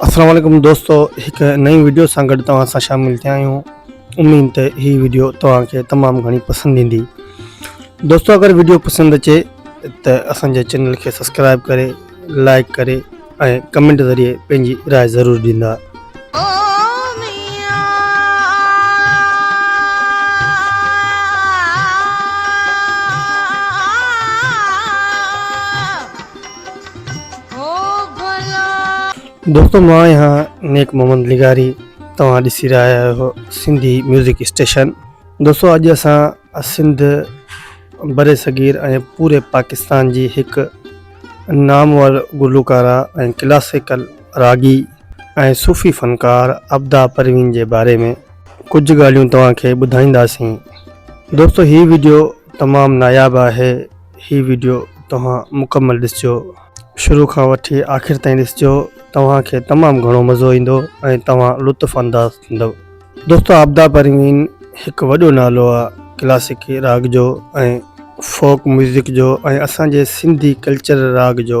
اسلام عليڪم دوستو هڪ نئين وڊيو سان گڏ توهان سان شامل ٿيا آهيون اميد ته هي وڊيو توهان کي تمام گهڻي پسند ايندي دوستو اگر وڊيو پسند اچي ته اسان جي چينل کي سبسڪرائب ڪري لائڪ ڪري ۽ ڪمنٽ ذريعي پنهنجي راء ضرور ڏيندا دوستو مان آهيان نيڪ محمد لغاري توهان ڏسي رهيا آهيو سنڌي ميوزڪ اسٽيشن دوستو اڄ اسان سنڌ بر صغير ۽ پوري پاڪستان جي هڪ نامور گلوڪارا ۽ ڪلاسيڪل راڳي ۽ صوفي فنڪار ابدا پروين جي باري ۾ ڪجهه ڳالهيون توهان کي ٻڌائينداسين دوستو هي ويڊيو تمام ناياب آهي هي ويڊيو توهان مڪمل ڏسجو شروع کان وٺي آخر تائين ڏسجو توهان کي تمام گهڻو مزو ايندو ۽ توهان لطف انداز ٿيندو دوستو آبدا پروين هڪ وڏو نالو آ ڪلاسيڪي راڳ جو ۽ فوڪ ميوزڪ جو ۽ اسان جي سنڌي ڪلچر راڳ جو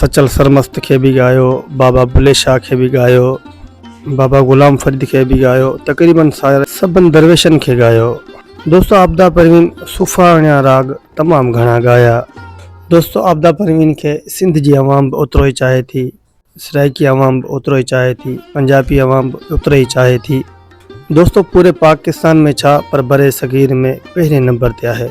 سچل سرمست کي به ڳايو، بابا بلي شاهه کي به ڳايو، بابا غلام فريد کي به ڳايو، تقريباً ساري سڀن درويشن کي ڳايو. دوستو عابده پروين صوفاڻيا راڳ تمام گهڻا ڳايا. دوستو عابده پروين کي سنڌ جي عوام به اوترو ئي چاهي ٿي، سرائيڪي عوام به اوترو ئي چاهي ٿي، پنجابي عوام به اوترو ئي چاهي ٿي. دوستو پوري پاڪستان ۾ ڇا پر برصغير ۾ پهرين نمبر تي آهي.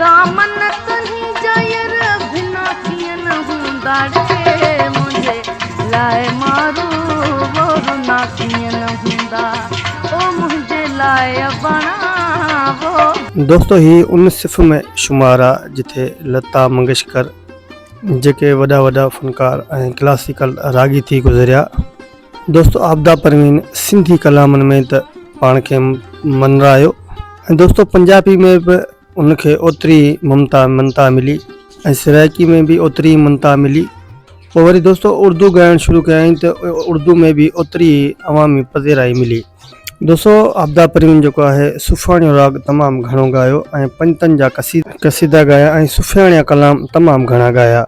دامن تنهنجا ير ڀنا ڪيئن هوندا ڙي منهنجي لاء مارو وورنا ڪيئن هوندا او منهنجي لاء اباڻا وو. دوستو هي ان صف ۾ شمار آ جٿي لتا منگيشڪر جيڪي وڏا وڏا فنڪار ۽ ڪلاسيڪل راڳي ٿي گذريا. دوستو عابده پروين سنڌي ڪلامن ۾ ته پاڻ کي منرايو ۽ دوستو پنجابي ۾ به ان کي اوتري ممتا منتا ملي ۽ سرائيڪي ۾ به اوتري منتا ملي پوء وري دوستو اردو ڳائڻ شروع ڪيائين ته اردو ۾ به اوتري عوامي پذيرائي ملي دوستو عابده پروين جيڪو آهي صوفياڻيو راڳ تمام گهڻو ڳايو ۽ پنجتن جا قصيدا ڳايا ۽ صوفياڻيا ڪلام تمام گهڻا ڳايا.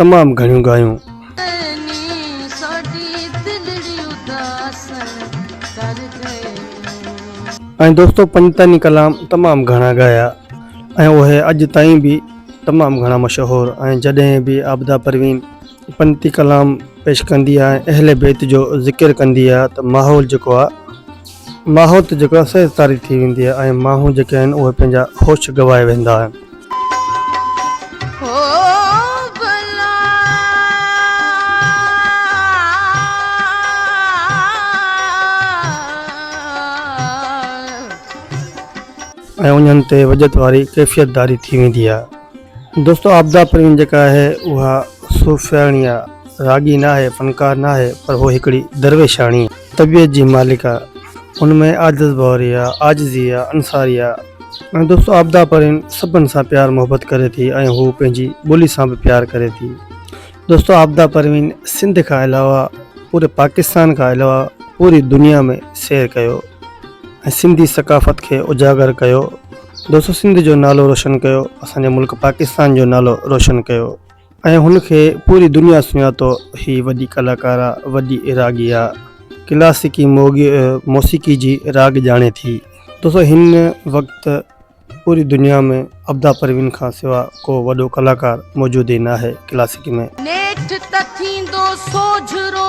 تمام گهڻيون ڳايون. ۽ دوستو پنجتاني ڪلام تمام گهڻا ڳايا ۽ اهي اڄ تائين به تمام گهڻا مشهور ۽ جڏهن به عابده پروين پنجتي ڪلام پيش ڪندي آ ۽ اهل بيت جو ذڪر ڪندي آ ته ماحول جيڪو آ ماحوت جيڪو آهي سيز طاري ٿي ويندي آهي ۽ ماڻهو جيڪي آهن اهي پنهنجا هوش گواهي ويندا آهن. ۽ انهن تي وڄت واري ڪيفيت داري ٿي ويندي آهي. دوستو عابده پروين جيڪا آهي اها صوفياڻي آهي، راڳي ناهي، فنڪار ناهي پر هوء هڪڙي درويشاڻي آهي. طبيعت جي مالڪ آ، ان ۾ عاجز ڀوري آ، عاجزي آ، انصاري آ ۽ دوستو آبدا پرين سڀن سان پيار محبت ڪري ٿي ۽ هو پنهنجي ٻولي سان به پيار ڪري ٿي. دوستو آبدا پروين سنڌ کان علاوه پوري پاڪستان کان علاوه پوري دنيا ۾ سير ڪيو ۽ سنڌي ثقافت کي اجاگر ڪيو دوستو سنڌ جو نالو روشن ڪيو اسان جي ملڪ پاڪستان جو نالو روشن ڪيو ۽ هن کي پوري دنيا سڃاتو هي وڏي ڪلاڪارا وڏي راڳيا ڪلاسيڪي موسيقي جي راڳ ڄاڻي ٿي دوستو هن وقت پوري دنيا ۾ ابدا پروين کان سوا ڪو وڏو ڪلاڪار موجود ئي ناهي ڪلاسيڪي ۾ نيٺ ته ٿيندو سوجهرو.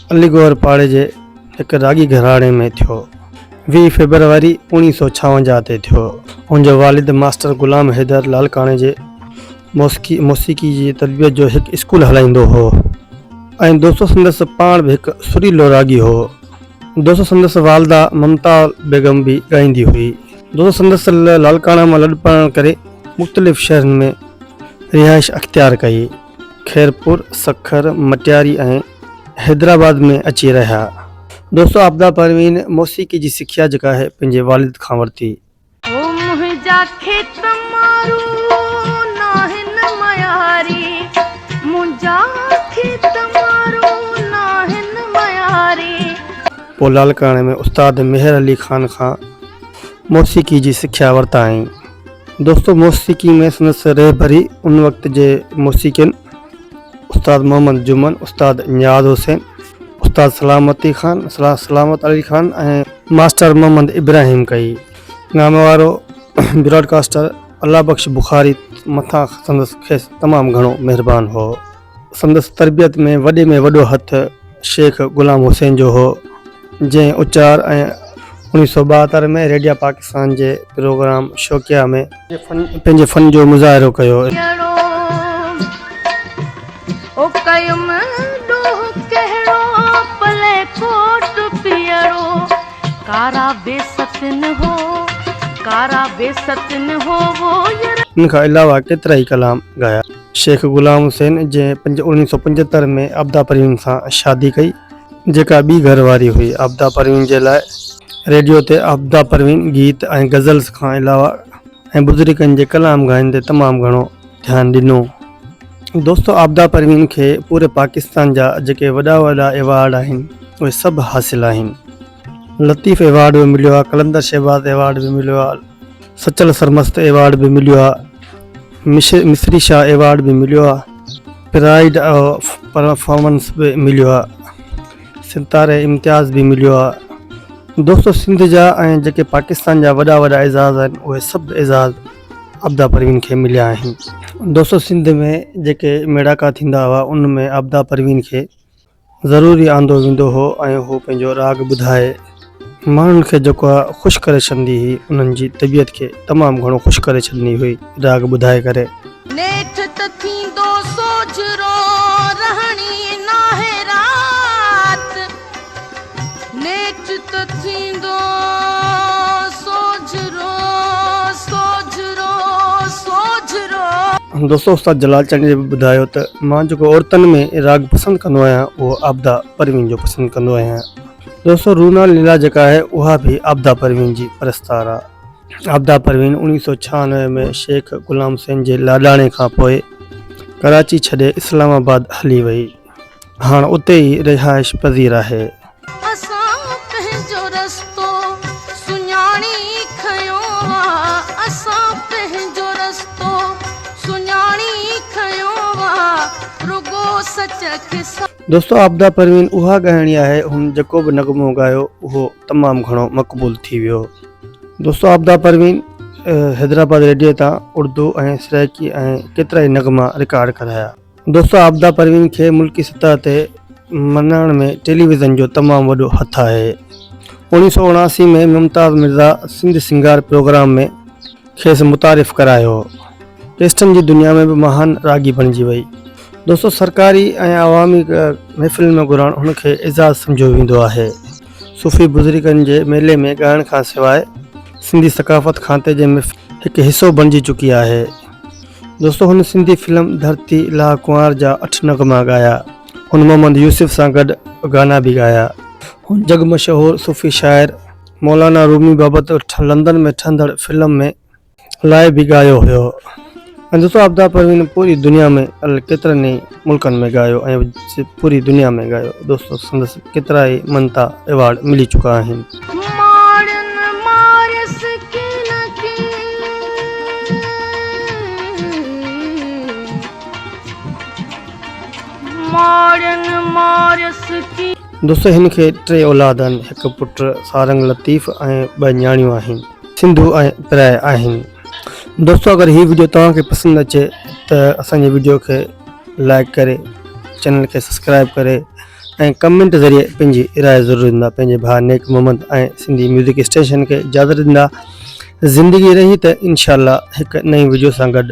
علي گوهر پاڙي جي هڪ راڳي گهراڻي ۾ ٿيو. ويهه فيبروري اوڻيهه سؤ ڇاونجاهه تي ٿيو. هن جو والد ماسٽر غلام حيدر لالڪاڻي جي موسيقي موسيقي جي تربيت جو هڪ اسڪول هلائيندو هو ۽ دوستو سندس پاڻ به هڪ سريلو راڳي هو. دوستو سندس والده ممتا بيگم به ڳائيندي هئي. دوستو سندس لالڪاڻا مان لڏپلاڻ ڪري مختلف شهرن ۾ رهائش اختيار ڪئي. خيرپور، سکر، مٽياري ۽ حيدرآباد ۾ اچي رهيا. دوستو عابده پروين موسيقي جي سکيا جيڪا آهي پنهنجي والد کان ورتي. هو منهنجا کيت مارو ناهن مياري منهنجا کيت مارو ناهن مياري. پوء لاڙڪاڻي ۾ استاد ميهر علي خان کان موسيقي جي سکيا ورتائين. دوستو موسيقي ۾ سندس رهبري ان وقت جي موسيقين استاد محمد جمن، استاد نياز حسين، استاد سلامتي خان، سلامت علي خان ۽ ماسٽر محمد ابراهيم ڪئي. نامي وارو براڊڪاسٽر الله بخش بخاري مٿان سندس کيس تمام گهڻو مهربان هو. سندس تربيت ۾ وڏي ۾ وڏو هٿ شيخ غلام حسين جو هو جنهن اچار ۽ انيس سو ٻاهتر ۾ ريڊيا پاڪستان جي پروگرام شوقيا ۾ پنهنجي فن جو مظاهرو ڪيو. ان کان علاوه ڪيترائي ڪلام ڳايا. شيخ غلام حسين جنهن پنج اڻويهه سؤ پنجهتر ۾ عابده پروين سان شادي ڪئي جيڪا ٻي گهر واري هئي عابده پروين جي لاء ريڊيو تي عابده پروين گيت ۽ غزلز کان علاوه ۽ بزرگن جي ڪلام گهائن تي تمام گهڻو ڌيان ڏنو دوستو عابده پروين کي پوري پاڪستان جا جيڪي وڏا وڏا ايوارڊ آهن اهي سڀ حاصل آهن. لطيف ايوارڊ به مليو آهي قلندر شهباز ايوارڊ به مليو آهي سچل سرمست ايوارڊ به مليو آهي مصري شاهه ايوارڊ به مليو آهي پرائيڊ آف پرفارمنس به مليو آهي ستاري امتياز به مليو آهي دوستو سنڌ جا ۽ جيڪي پاڪستان جا وڏا وڏا اعزاز آهن اهي سڀ اعزاز عبدا پروين کي مليا آهن دوستو سنڌ ۾ جيڪي ميڙاڪا ٿيندا هئا ان ۾ عبدا پروين کي ضروري آندو ويندو هو ۽ هو پنهنجو راڳ ٻڌائي ماڻهن کي جيڪو خوش ڪري ڇڏندي هئي انهن جي طبيعت کي تمام گهڻو خوش ڪري ڇڏندي هئي راڳ ٻڌائي ڪري. نيٺ ته ٿيندو سوجهرو رهڻي ناهي رات. نيٺ ته ٿيندو سوجهرو سوجهرو سوجهرو. دوستو استاد جلال چانڊيي به ٻڌايو ته مان جيڪو عورتن ۾ راڳ پسند ڪندو آهيان اهو عابده پروين جو پسند ڪندو آهيان دوستو رونال ليلا جيڪا آهي اها به عابده پروين جي پرستار آهي عابده پروين اوڻيهه سو ڇهانوي ۾ شيخ غلام حسين جي لاڏاڻي کان پوء ڪراچي ڇڏي اسلام آباد هلي وئي هاڻ اتي ئي رهائش پذير آهي. اسان پنهنجو رستو سڃاڻي کنيو آ اسان پنهنجو رستو سڃاڻي کنيو آ رڳو سچ کي سان. دوستو عابده پروين اها ڳائڻي آهي هن جيڪو به نغمو ڳايو اهو تمام گهڻو مقبول ٿي ويو. دوستو عابده پروين حيدرآباد ريڊيو تان اردو ۽ سرائيڪي ۽ ڪيترائي نغما رڪارڊ ڪرايا. دوستو عابده پروين کي ملڪي سطح تي مڃائڻ ۾ ٽيليويزن جو تمام وڏو هٿ آهي اوڻيهه سؤ اڻاسي ۾ ممتاز مرزا سنڌ سنگار پروگرام ۾ کيس متعارف ڪرايو ڪيسٽن جي دنيا ۾ به مهان راڳي بڻجي وئي دوستو سرڪاري ۽ عوامي محفلن ۾ گهرڻ هن کي اعزاز سمجهيو ويندو آهي صوفي بزرگن جي ميلي ۾ ڳائڻ کان سواء سنڌي ثقافت کاتي جي محفل هڪ حصو بڻجي چڪي آهي دوستو هن سنڌي فلم ڌرتي لا ڪنوار جا اٺ نغما ڳايا. هن محمد يوسف سان گڏ گانا به ڳايا. هن جڳ مشهور صوفي شاعر مولانا رومي بابت لندن ۾ ٺهندڙ فلم ۾ لاء به ڳايو هيو. ۽ دوستو آفتاب پروين پوري دنيا ۾ ڪيترن ئي. ملڪن ۾ ڳايو ۽ پوري دنيا ۾ ڳايو دوستو سندس ڪيترائي منتا ايوارڊ ملي چڪا آهن. دوستو هن کي ٽي اولاد آهن هڪ پٽ سارنگ لطيف ۽ ٻه نياڻيون آهن. سنڌو ۽ پرايا آهن دوستو اگر هي ويڊيو توهان کي پسند اچي ته اسان جي ويڊيو کي لائڪ ڪري چينل کي سبسڪرائب ڪري ۽ ڪمنٽ ذريعي پنهنجي راء ضرور ڏيندا پنهنجي ڀاء نيڪ محمد ۽ سنڌي ميوزڪ اسٽيشن کي اجازت ڏيندا زندگي رهي ته انشاءالله هڪ نئين ويڊيو سان گڏ